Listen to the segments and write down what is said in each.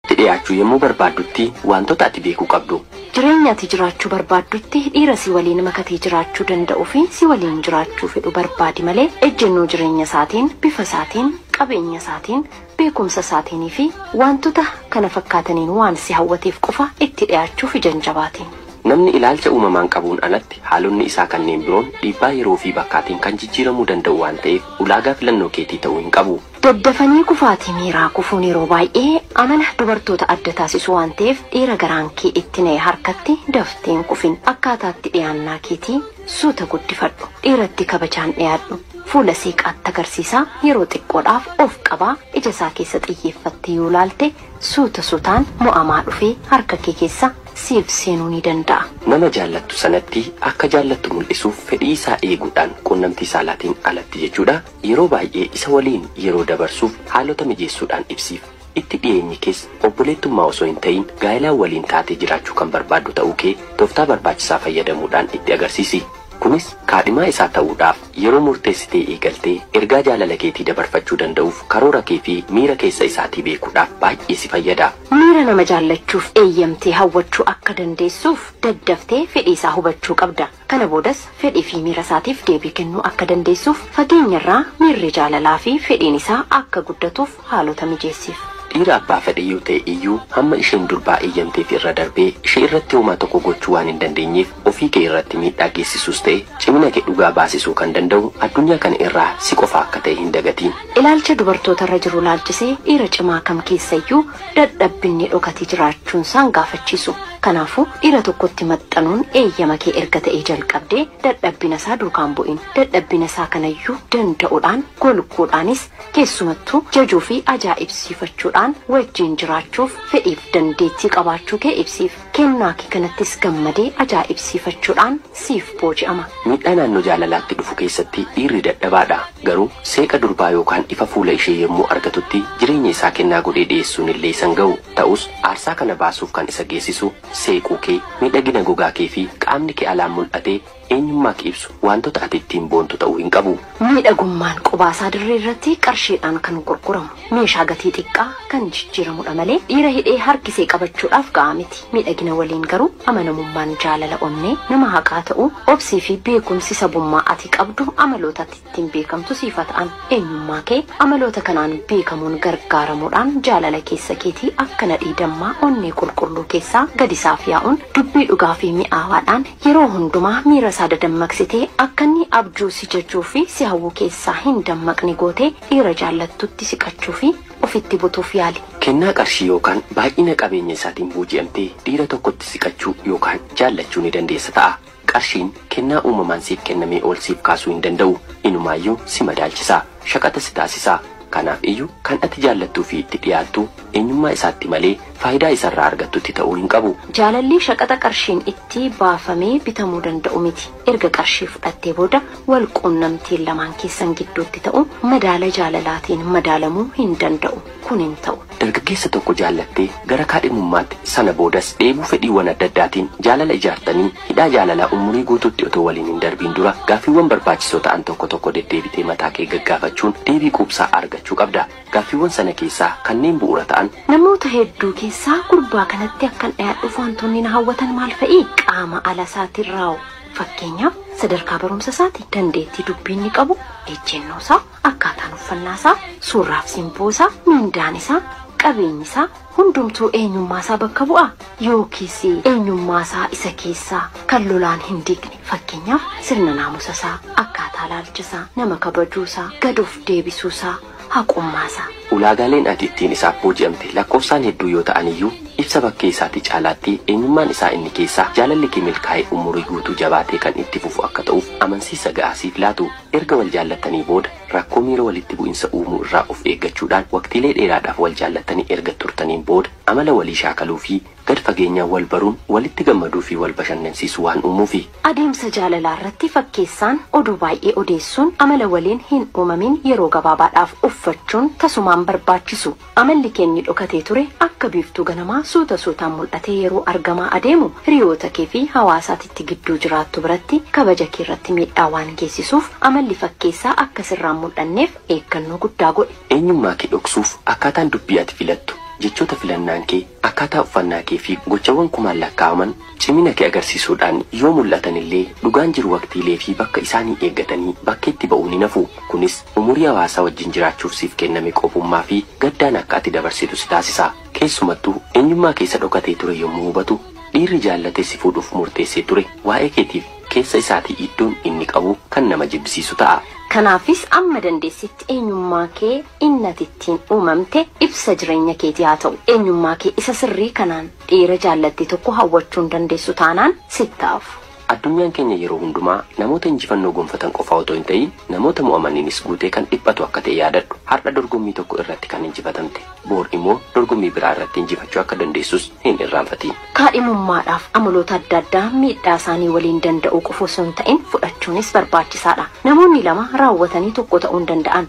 tti dhiyaachuu yommuu barbaaddutti waantota ati beekuu qabdu. Jireenya ati jiraachuu barbaaddutti dhiira si waliin makatee jiraachuu danda'u fi si waliin jiraachuu fedhu barbaadi malee ejjennoo jireenya isaatiin, bifa isaatiin, qabeenya isaatiin, beekumsa isaatiinii fi waantota kana fakkaataniin waan si hawwateef qofa itti dhiyaachuuf ija hin jabaatiin. Namni ilaalcha uumamaan qabuun alatti haalonni isaa kanneen biroon dhiibbaa yeroo fi bakkaatiin kan jijjiiramuu danda'u waan ta'eef ulaagaa filannoo keetii ta'uu hin qabu. Daddafanii kufaatii miiraa kufuun yeroo baay'ee amala dubartoota adda taasisu waan ta'eef dhiira garaan kee itti na'e harkatti daftee hin kufin. Akkaataa itti dhiyaannaa keetii suuta guddifadhu. Dhiiratti kabajaan dhiyaadhu. Fuula seeqaatti agarsiisaa yeroo xiqqoodhaaf of qabaa ija isaa keessa xiyyeeffattee yoo ilaalte suuta suutaan mo'amaa dhufee harka kee keessa siif seenuu ni danda'a. Nama jaallattu sanatti akka jaallattu mul'isuuf fedhii isaa eeguudhaan quunnamtii saalaatiin alatti jechuudha Yeroo baay'ee isa waliin yeroo dabarsuuf haalota mijeessuudhaan ibsiif. Itti dhiyeenyi kees obboleettummaa osoo hin ta'iin gaa'elaan waliin taatee jiraachuu kan barbaaddu ta'uu kee tooftaa barbaachisaa fayyadamuudhaan itti agarsiisi. Kunis kaadhimaa isaa ta'uudhaaf yeroo murteessitee eegaltee ergaa jaalala keetii dabarfachuu danda'uuf karoora kee fi miira keessa isaatii beekuudhaaf baay'ee si fayyada. Miira nama jaallachuuf eeyyamtee hawwachuu akka dandeessuuf daddaftee fedhii isaa hubachuu qabda. Kana boodas fedhii fi miira isaatiif deebii kennuu akka dandeessuuf fageenyarraa miirri jaalalaa fi fedhiin isaa akka guddatuuf haalota mijeessiif. Dhiira abbaa fedhe yoo ta'e iyyuu hamma isheen durbaa eeyyamteef irra darbee ishee irratti homaa tokko gochuu waan hin dandeenyeef ofii kee irratti miidhaa geessisuus ta'e cimina kee dhugaa baasisuu kan danda'u addunyaa kana irraa si qofa akka ta'e hin dagatiin. Ilaalcha dubartoota irra jiru ilaalchisee dhiira cimaa kam keessa iyyuu dadhabbinni dhokate jiraachuunsaan gaafachiisu. Kanaafuu, dhiira tokkotti maxxanuun eeyyama kee erga ta'ee jalqabdee dadhabbina isaa duukaan bu'in. Dadhabbina isaa kanayyuu danda'udhaan, golguudhaanis, keessumattuu jajuufi ajaa'ibsiifachuudhaan wajjin jiraachuuf fedhiif dandeettii qabaachuu kee ibsiif. Kennaa kee kanattis gammadee ajaa'ibsiifachuudhaan siif booji'ama. Miidhaa naannoo jaalalaatti dhufu keessatti dhiirri dadhabaadha. Garuu seeqa durbaa yookaan ifa fuula ishee yommuu argatutti jireenya isaa kennaa godhee dhiyeessuun illee isa hin ga'u. Ta'us, aarsaa kana baasuuf kan isa geessisu seequu kee, miidhagina gogaa kee fi qaamni kee alaan mul'ate, Eenyummaa kee ibsu waantota ati ittiin boontu ta'uu hin qabu. Miidhagummaan qubaasaa dirree irratti qarshiidhaan kan gurguramu, meeshaa gatii xiqqaa kan jijjiiramudha malee dhiira hidhee harkisee qabachuudhaaf ga'aa miti. Miidhagina waliin garuu amanamummaan jaalala onnee nama haqaa ta'uu, obsii fi beekumsi sabummaa ati qabdu amaloota ati. ittiin beekamtu siif haa ta'an. Eenyummaa kee amaloota kanaan beekamuun gargaaramuudhaan jaalala keessa keetii akka nadhii dammaa onnee qulqulluu keessaa gadi isaaf yaa'uun dubbii dhugaa fi mi'aawaadhaan yeroo hundumaa miira isaa dadammaqsitee akka inni abjuu si jajuu fi si hawwu keessaa hin dammaqne gootee dhiira jaallattutti siqachuu fi ofitti butuuf yaali. Kennaa qarshii yookaan baay'ina qabeenya isaatiin booji'amtee dhiira tokkotti siqachuu yookaan jaallachuu ni dandeessa ta'a. Qarshiin kennaa uumamaan siif kennamee ol siif kaasuu hin danda'u. Inumaayyuu si madaalchisa. Shaqaxa si taasisa. Kanaaf iyyu kan ati jaallattuu fi itti dhiyaattu eenyummaa isaatti malee faayidaa isarraa argattutti ta'uu hin qabu. Jaalalli shaqaxa qarshiin itti baafamee bitamuu danda'u miti. Erga qarshii fudhattee booda wal quunnamtiin lamaan keessan gidduutti ta'u madaala jaalalaatiin madaalamuu hin danda'u. Kun hin ta'u. Dargaggeessa tokko jaallattee gara kaadhimummaatti, sana boodas dheebuu fedhiiwwan adda addaatiin jaalala ijaartanii, hidhaa jaalalaa umurii guutuutti otoo waliin hin darbiin dura gaaffiiwwan barbaachisoo ta'an tokko tokko deddeebitee mataa kee gaggaafachuun deebii quubsaa argachuu qabda. Gaaffiiwwan sana keessaa kanneen bu'uura ta'an. Namoota hedduu keessaa gurbaa kanatti akkan dhiyaadhuuf wantoonni na hawwatan maal fa'i? Qaama ala isaatiin raaww. Fakkeenyaaf, sadarkaa barumsa isaati, dandeettii dubbii inni qabu, ejjennoo isaa. Akkaataan uffannaa isaa, surraaf simboo isaa, mindaan isaa, qabeenyi isaa hundumtuu eenyummaa isaa bakka bu'aa? Yookiis eenyummaa isaa isa keessaa kan lolaan hin diigne fakkeenyaaf sirna naamusa isaa, akkaataa ilaalcha isaa, nama kabajuu isaa, gad of deebisuu isaa, haqummaa isaa. Ulaagaaleen ati ittiin isaaf booji'amte lakkoofsaan hedduu yoo ta'an iyyuu, ibsa bakkee isaatii caalaatti eenyummaan isaa inni keessaa jaalalli kee milkaa'ee umurii guutuu jabaatee kan itti fufu akka ta'uuf amansiisa ga'aa siif laatu. Erga wal jaallattanii booda rakkoo miira walitti bu'insa uumuu irraa of eeggachuudhaan waqtiilee dheeraadhaaf wal jaallattanii erga turtaniin booda amala walii shaakaluu fi gad fageenyaan wal baruun walitti gammaduu fi wal bashannansiisuu waan uumuufi. Adeemsa jaalalaa irratti fakkeessaan oduu baay'ee odeessuun amala waliin hin uumamin yeroo gabaabaadhaaf uffachuun tasumaan barbaachisu. Amalli kee inni dhokatee ture akka biiftuu ganamaa suuta suutaan mul'atee yeroo argamaa adeemu hiriyoota kee fi hawaasa ati itti gidduu jiraattu biratti kabaja kee irratti miidhaa waan geessisuuf amalli fakkeessaa akka sirraa hin mul'anneef eeggannoo guddaa godhi. Eenyummaa kee dhoksuuf akkaataan dubbii ati filattu, jechoota filannaan kee, Akkaataa uffannaa kee fi gochawwan kumaan lakkaa'aman cimina kee agarsiisuudhaan yoo mul'atan illee, dhugaan jiru waqtiilee fi bakka isaanii eeggatanii bakkeetti ba'uun hin hafu. Kunis umurii hawaasaa wajjin jiraachuuf siif kenname qophummaa fi gaddaan akka ati dabarsitu si taasisa. Keessumattuu, eenyummaa kee isa dhokatee ture yommuu hubatu, dhiirri jaallatee si fuudhuuf murteessee ture waa'ee keetiif keessa isaatii iddoon inni qabu kan nama jibbisiisu ta'a. Kanaafis amma dandeessitti eenyummaa kee Inni ati ittiin uumamte ibsa jireenya keetii haa ta'u. Eenyummaa kee isa sirrii kanaan dhiira jaallatte tokko hawwachuu hin dandeessu taanaan sitti haa hafu. Addunyaan keenya yeroo hundumaa namoota injifannoo gonfatan qofaa otoo hin ta'iin namoota mo'amaniinis guutee kan dhiphatu akka ta'e yaadadhu. Har'a dorgommii tokko irratti kan injifatamte boor immoo dorgommii biraa irratti injifachuu akka dandeessus hin irraanfatiin. Kaadhimummaadhaaf amaloota adda addaa miidhaa isaanii waliin danda'uu qofa osoo hin ta'in fudhachuunis barbaachisaadha. Namoonni lama raawwatanii tokko ta'uu hin danda'an.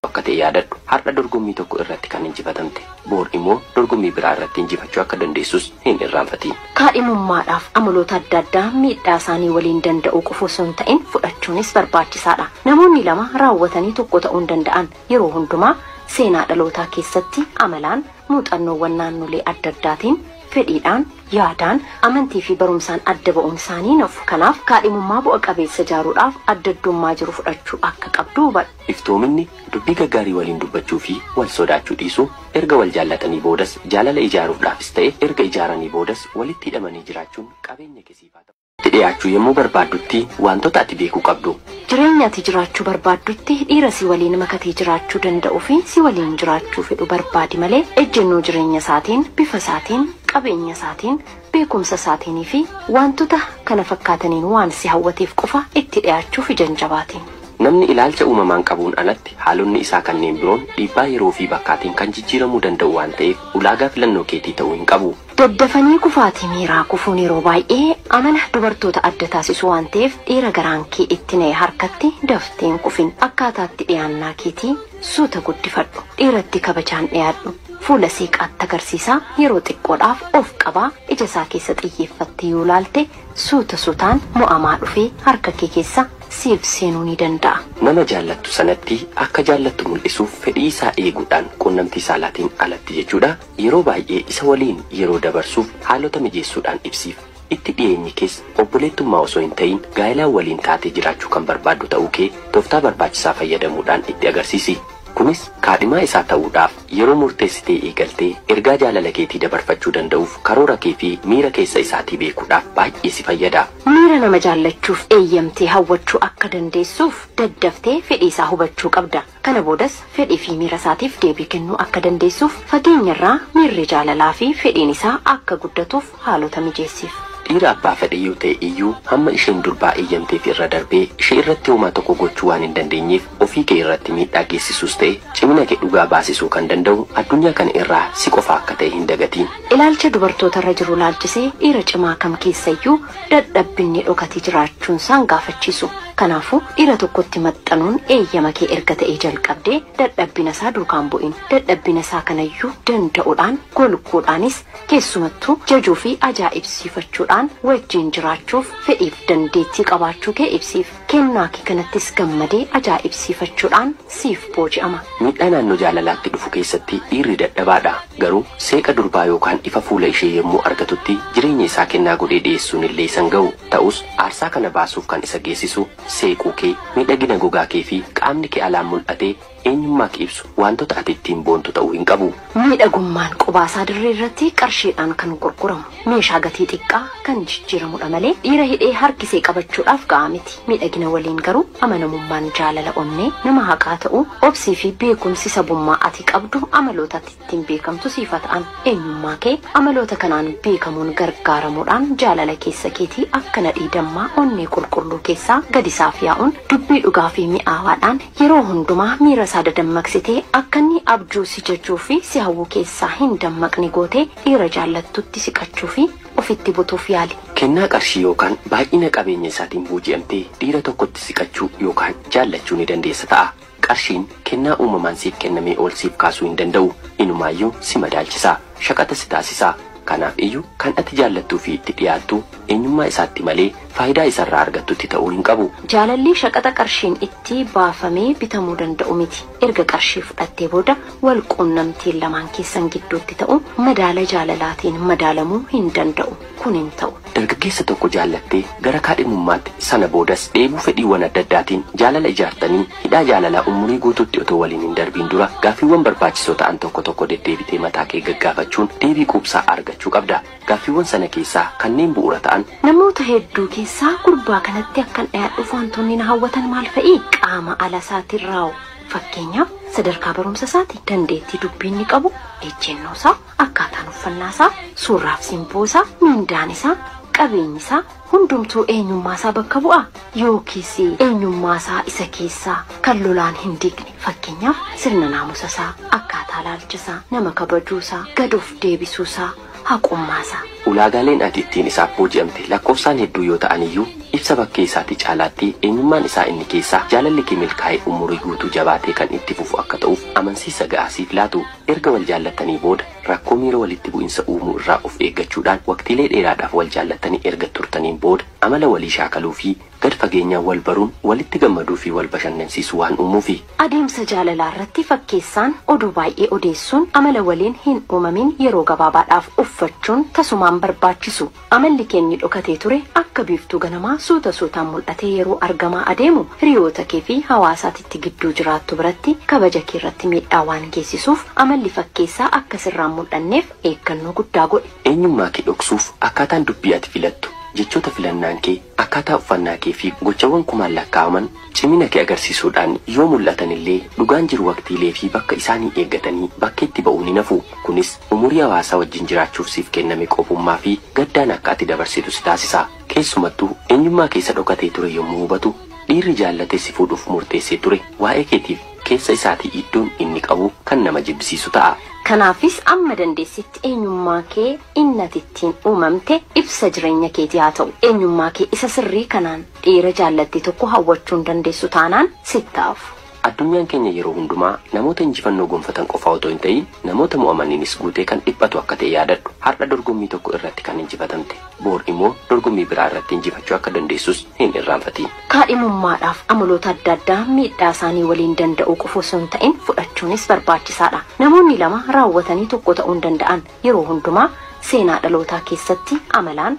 qabu akka ta'e yaadadhu. Har'a dorgommii tokko irratti kan injifatamte, boor imoo dorgommii biraa irratti injifachuu akka dandeessus hin irraanfatiin. Kaadhimummaadhaaf amaloota adda addaa miidhaa isaanii waliin danda'uu qofa osoo hin ta'in fudhachuunis barbaachisaa dha. Namoonni lama raawwatanii tokko ta'uu hin danda'an. Yeroo hundumaa seenaa dhalootaa keessatti amalaan, muuxannoowwan naannolee adda addaatiin, fedhiidhaan, yaadaan, amantii fi barumsaan adda ba'uun isaanii hin hafu. Kanaaf, kaadhimummaa bu'a qabeessa ijaaruudhaaf adda addummaa jiru fudhachuu akka qabdu hubadhu. Iftoominni dubbii gaggaarii waliin dubbachuu fi wal sodaachuu dhiisuu, erga wal jaallatanii boodas jaalala ijaaruufdhaafis ta'e erga ijaaranii boodas walitti hidhamanii jiraachuun qabeenya kee siif haa ta'u. Itti dhiyaachuu yemmuu barbaaddutti waantota ati beekuu qabdu. Jireenya ati jiraachuu barbaaddutti dhiira si waliin makatee jiraachuu danda'u fi si waliin jiraachuu fedhu barbaadi malee ejjennoo jireenya isaatiin, bifa isaatiin, qabeenya isaatiin, beekumsa isaatiin fi waantota kana fakkaataniin waan si hawwateef qofa itti dhiyaachuuf ija hin jabaatin. Namni ilaalcha uumamaan qabuun alatti haalonni isaa kanneen biroon dhiibbaa yeroo fi bakkaatiin kan jijjiiramuu danda'u waan ta'eef ulaagaa filannoo keetii ta'uu hin qabu. Daddafanii kufaatii miiraa kufuun yeroo baay'ee amala dubartoota adda taasisu waan ta'eef dhiira garaan kee itti na'e harkatti daftee hin kufin. Akkaataa itti dhiyaannaa keetii suuta guddifadhu. Dhiiratti kabajaan dhiyaadhu. Fuula seeqaatti agarsiisa, yeroo xiqqoodhaaf of qaba, ija isaa keessa xiyyeeffattee yoo ilaalte suuta suutaan mo'amaa dhufee harka kee keessa siif seenuu ni danda'a. Nama jaallattu sanatti akka jaallattu mul'isuuf fedhii isaa eeguudhaan quunnamtii saalaatiin alatti jechuudha, yeroo baay'ee isa waliin yeroo dabarsuuf haalota mijeessuudhaan ibsiif. Itti dhiyeenyi kees obboleettummaa osoo hin ta'iin gaa'elaan waliin taatee jiraachuu kan barbaaddu ta'uu kee tooftaa barbaachisaa fayyadamuudhaan itti agarsiisi. Kunis kaadhimaa isaa ta'uudhaaf yeroo murteessitee eegaltee ergaa jaalala keetii dabarfachuu danda'uuf karoora kee fi miira keessa isaatii beekuudhaaf baay'ee si fayyada. Miira nama jaallachuuf eeyyamtee hawwachuu akka dandeessuuf daddaftee fedhii isaa hubachuu qabda. Kana boodas fedhii fi miira isaatiif deebii kennuu akka dandeessuuf fageenya irraa miirri jaalalaa fi fedhiin isaa akka guddatuuf haalota mijeessiif. Dhiira abbaa fedhe yoo ta'e iyyuu hamma isheen durbaa eeyyamteef irra darbee ishee irratti homaa tokko gochuu waan hin dandeenyeef ofii kee irratti miidhaa geessisuus ta'e cimina kee dhugaa baasisuu kan danda'u addunyaa kana irraa si qofa akka ta'e hin dagatiin. Ilaalcha dubartoota irra jiru ilaalchisee dhiira cimaa kam keessa iyyuu dadhabbinni dhokate jiraachuunsaan gaafachiisu. Kanaafuu, dhiira tokkotti maxxanuun eeyyama kee erga ta'ee jalqabdee dadhabbina isaa duukaan bu'in. Dadhabbina isaa kanayyuu danda'udhaan, golguudhaanis, keessumattuu jajuufi ajaa'ibsiifachuudhaan wajjin jiraachuuf fedhiif dandeettii qabaachuu kee ibsiif. Kennaa kee kanattis gammadee ajaa'ibsiifachuudhaan siif booji'ama. Miidhaa naannoo jaalalaatti dhufu keessatti dhiirri dadhabaadha. Garuu seeqa durbaa yookaan ifa fuula ishee yommuu argatutti jireenya isaa kennaa godhee dhiyeessuun illee isa hin ga'u. Ta'us, aarsaa kana baasuuf kan isa geessisu seequu kee, miidhagina gogaa kee fi qaamni kee alaan mul'ate Eenyummaa kee ibsu waantota ati ittiin boontu ta'uu hin qabu. Miidhagummaan qubaasaa dirree irratti qarshiidhaan kan gurguramu, meeshaa gatii xiqqaa kan jijjiiramudha malee dhiira hidhee harkisee qabachuudhaaf ga'aa miti. Miidhagina waliin garuu amanamummaan jaalala onnee nama haqaa ta'uu, obsii fi beekumsi sabummaa ati qabdu amaloota ati. ittiin beekamtu siif haa ta'an. Eenyummaa kee amaloota kanaan beekamuun gargaaramuudhaan jaalala keessa keetii akka nadhii dammaa onnee qulqulluu keessaa gad isaaf yaa'uun dubbii dhugaa fi mi'aawaadhaan yeroo hundumaa miira isaa dadammaqsitee akka inni abjuu si jajuu fi si hawwu keessaa hin dammaqne gootee dhiira jaallattutti siqachuu fi ofitti butuuf yaali. Kennaa qarshii yookaan baay'ina qabeenya isaatiin booji'amtee dhiira tokkotti siqachuu yookaan jaallachuu ni dandeessa ta'a. Qarshiin kennaa uumamaan siif kennamee ol siif kaasuu hin danda'u. Inumaayyuu si madaalchisa. Shaqaxa si taasisa. Kanaaf iyyu kan ati jaallattuu fi itti dhiyaattu eenyummaa isaatti malee faayidaa isarraa argattutti ta'uu hin qabu. Jaalalli shaqaxa qarshiin itti baafamee bitamuu danda'u miti. Erga qarshii fudhattee booda wal quunnamtiin lamaan keessan gidduutti ta'u madaala jaalalaatiin madaalamuu hin danda'u. Kun hin ta'u. Dargaggeessa tokko jaallattee gara kaadhimummaatti, sana boodas dheebuu fedhiiwwan adda addaatiin jaalala ijaartanii, hidhaa jaalalaa umurii guutuutti otoo waliin hin darbiin dura gaaffiiwwan barbaachisoo ta'an tokko tokko deddeebitee mataa kee gaggaafachuun deebii quubsaa argachuu qabda. Gaaffiiwwan sana keessaa kanneen bu'uura ta'an. Namoota hedduu keessaa gurbaa kanatti akkan dhiyaadhuuf wantoonni na hawwatan maal fa'i? Qaama ala isaatiin raaww. Fakkeenyaaf, sadarkaa barumsa isaati, dandeettii dubbii inni qabu, ejjennoo isaa. Akkaataan uffannaa isaa, suurraaf simboo isaa, mindaan isaa, qabeenyi isaa hundumtuu eenyummaa isaa bakka bu'aa? Yookiis eenyummaa isaa isa keessaa kan lolaan hin diigne fakkeenyaaf sirna naamusa isaa, akkaataa ilaalcha isaa, nama kabajuu isaa, gad of deebisuu isaa, haqummaa isaa. Ulaagaaleen ati ittiin isaaf booji'amte lakkoofsaan hedduu yoo ta'an iyyuu ibsa bakkee isaatii caalaatti eenyummaan isaa inni keessaa jaalalli kee milkaa'ee umurii guutuu jabaatee kan itti fufu akka ta'uuf amansiisa ga'aa siif laatu. Erga wal jaallattanii booda rakkoo miira walitti bu'insa uumuu irraa of eeggachuudhaan waqtiilee dheeraadhaaf wal jaallattanii erga turtaniin booda amala walii shaakaluu fi gad fageenyaan wal baruun walitti gammaduu fi wal bashannansiisuu waan uumuufi. Adeemsa jaalalaa irratti fakkeessaan oduu baay'ee odeessuun amala waliin hin uumamin yeroo gabaabaadhaaf uffachuun tasumaan barbaachisu. Amalli kee inni dhokatee ture akka biiftuu ganamaa suuta suutaan mul'atee yeroo argamaa adeemu hiriyoota kee fi hawaasa ati itti gidduu jiraattu biratti kabaja kee irratti miidhaa waan geessisuuf amalli fakkeessaa akka sirraa hin mul'anneef eeggannoo guddaa godhi. Eenyummaa kee dhoksuuf akkaataan dubbii ati filattu, jechoota filannaan kee, akkaataa uffannaa kee fi gochawwan kumaan lakkaa'aman, cimina kee agarsiisuudhaan yoo mul'atan illee dhugaan jiru waqtiilee fi bakka isaanii eeggatanii bakkeetti ba'uun hin hafu. Kunis umurii hawaasaa wajjin jiraachuuf siif kenname qophummaa fi gaddaan akka ati dabarsitu si taasisa. Keessumattuu eenyummaa kee isa dhokatee ture yommuu hubatu dhiirri jaallatee si fuudhuuf murteessee ture waa'ee keetiif keessa isaatii iddoon inni qabu kan nama jibbisiisu ta'a. Kanaafis amma dandeessitti eenyummaa kee inni ati ittiin uumamte ibsa jireenya keetii haa ta'u. Eenyummaa kee isa sirrii kanaan Dhiira jaallattu tokko hawwachuu hin dandeessu taanaan sitti haa hafu. Addunyaan keenya yeroo hundumaa namoota injifannoo gonfatan qofaa otoo hin ta'iin namoota mo'amaniinis guutee kan dhiphatu akka ta'e yaadadhu. Har'a dorgommii tokko irratti kan injifatamte, boor immoo dorgommii biraa irratti injifachuu akka dandeessus hin irraanfatiin. Kaadhimummaadhaaf amaloota adda addaa miidhaa isaanii waliin danda'uu qofa osoo hin ta'in fudhachuunis barbaachisaadha. Namoonni lama raawwatanii tokko ta'uu hin danda'an. Yeroo hundumaa seenaa dhalootaa keessatti amalaan,